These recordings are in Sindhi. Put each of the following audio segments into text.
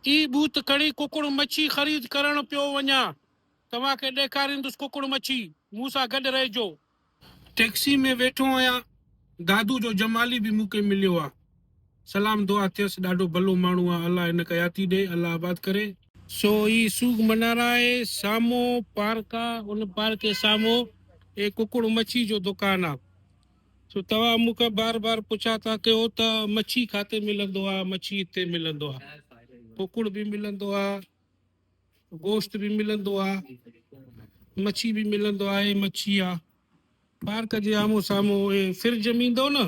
ئي ٻوت کڻي ڪڪڙ مڇي خريد ڪرڻ پيو وڃان. توهان کي ڏيکاريندس ڪڪڙ مڇي. مون سان گڏ رهجو. ٽيڪسي ۾ ويٺو آهيان. دادو جو جمالي به مون کي مليو آ. سلام دعا ٿيس. ڏاڍو ڀلو ماڻهو آ. الله هن کي حياتي ڏي. الله آباد ڪري. سو هي سوگ منارا آهي. سامهون پارڪ آ. ان پارڪ جي سامهون هي ڪڪڙ مڇي جو دڪان آ. سو توهان مون کان بار بار پڇا ٿا ڪيو ته مڇي کاتي ملندو آ مڇي اتي ملندو آ ڪوڪڙ به ملندو آ گوشت به ملندو آ مڇي به ملندو آ مڇي آ بار ڪجي آمو سامو فر جميندو نه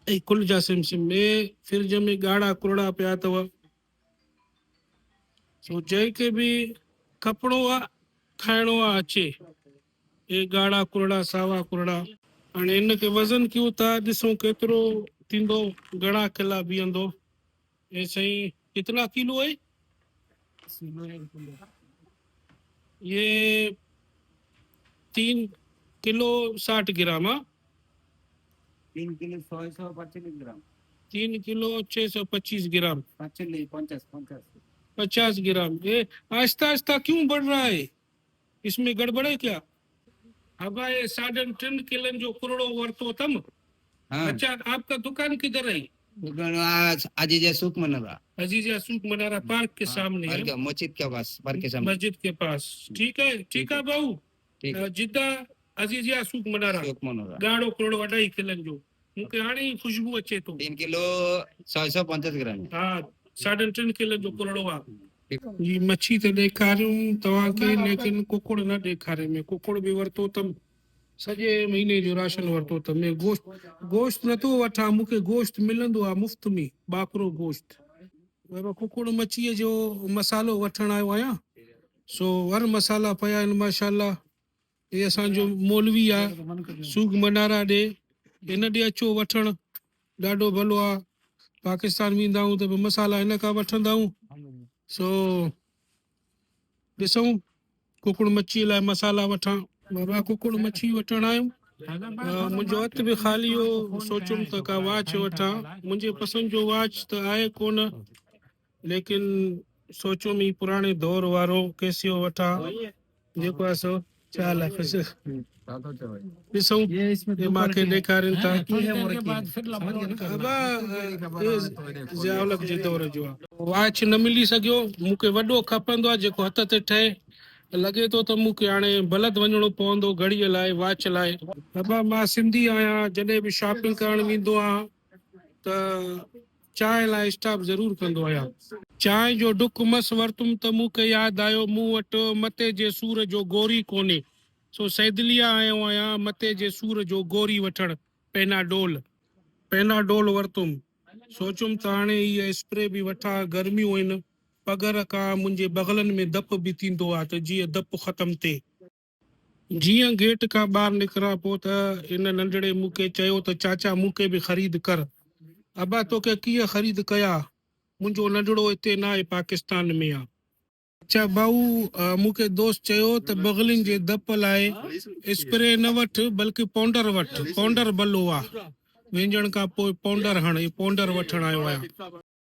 اي کل جا سم سم ۾ فر جمي گاڙا ڪرڙا پيا تو سو جي کي به کپڙو آ کائڻو آ اچي اي ڳاڙها ڪرڙا ساوا ڪرڙا. هاڻي ان کي وزن ڪيون ٿا ڏسون ڪيترو ٿيندو گهڻا ڪلا بيهندو اي سائين ڪتنا ڪيلو هي يي تين ڪيلو ساٺ گرام ها تين ڪيلو سو سو پچيس گرام تين ڪيلو چه سو پچيس گرام پچيس پچاس پچاس گرام اي آهسته آهسته ڪيون بڙ رها هي اس ۾ گڙٻڙي ڪيا هبائي ساڍن ٽن ڪلن جو ڪرڙو ورتو تم اچا آپ ڪا دڪان ڪدھر هي؟ دڪان عزيزيا سوق منارا. عزيزيا سوق منارا پارڪ ڪي سامني هي. پارڪ مسجد ڪي پاس پارڪ ڪي سامني. مسجد ڪي پاس ٺيڪ هي ٺيڪ هي ڀائو جدا عزيزيا سوق منارا ڳاڙهو ڪرڙو اڍائي ڪلن جو مون کي هاڻي ئي خوشبو اچي ٿو. ٽن ڪلو سؤ سؤ پنجاس گرام. ها ساڍن ٽن ڪلن جو ڪرڙو آ جي مڇي ته ڏيکاريون توهان کي ليڪن ڪڪڙ نه ڏيکاري ۾ ڪڪڙ به ورتو تم سڄي مهيني جو راشن ورتو تم ۾ گوشت گوشت نه ٿو وٺان مون کي گوشت ملندو آهي مفت ۾ ٻاڪرو گوشت ورو ڪڪڙ مڇيء جو مصالحو وٺڻ آيو آهيان سو ور مصالحا پيا آهن ماشاءالله هي اسان جو مولوي آ سوگ منارا ڏي هن ڏي اچو وٺڻ ڏاڍو ڀلو آ پاڪستان ويندا آهون ته به مسالا هن کان وٺندا آهون سو ڏسون ڪڪڙ مڇي لاء مسالا وٺان بابا ڪڪڙ مڇي وٺڻ آيم منهنجو هٿ به خالي هو سوچيم ته ڪا واچ وٺان منهنجي پسند جو واچ ته آهي ڪونه ليڪن سوچيم هي پراڻي دور وارو ڪيسيو وٺان جيڪو آهي سو چال آهي پڇي ڏسون جي مان کي ڏيکارين ٿا ابا هي ضياء الحق جي دور جو آهي. واچ نه ملي سگهيو مون کي وڏو کپندو آهي جيڪو هٿ تي ٺهي لڳي ٿو ته مون کي هاڻي بلد وڃڻو پوندو گهڙيء لاء واچ لاء. ابا مان سنڌي آهيان جڏهن به شاپنگ ڪرڻ ويندو آهيان ته چانهه لاء اسٽاپ ضرور ڪندو آهيان. چانهه جو ڍڪ مس ورتم ته مون کي ياد آيو مون وٽ مٿي جي سور جو گوري ڪونهي سو صيدليه آيو آهيان مٿي جي سور جو گوري وٺڻ پينا ڊول. پينا ڊول ورتم. سوچيم ته هاڻي هيء اسپري به وٺان گرميون آهن پگهر کان منهنجي بغلن ۾ دپ به ٿيندو آهي ته جيئن دپ ختم ٿئي. جيئن گيٽ کان ٻاهر نڪران پو ته ان ننڍڙي مون کي چيو ته چاچا مون کي به خريد ڪر. ابا توکي ڪيئن خريد ڪيا؟ منهنجو ننڍڙو اتي ناهي پاڪستان ۾ آ. اڇا ڀائو مون کي دوست چيو ته بغلين جي دپ لاء اسپري نه وٺ بلڪه پونڊر وٺ پونڊر بلو آ. وينجهڻ کان پو پونڊر هڻ اي پونڊر وٺڻ آيو آهيان.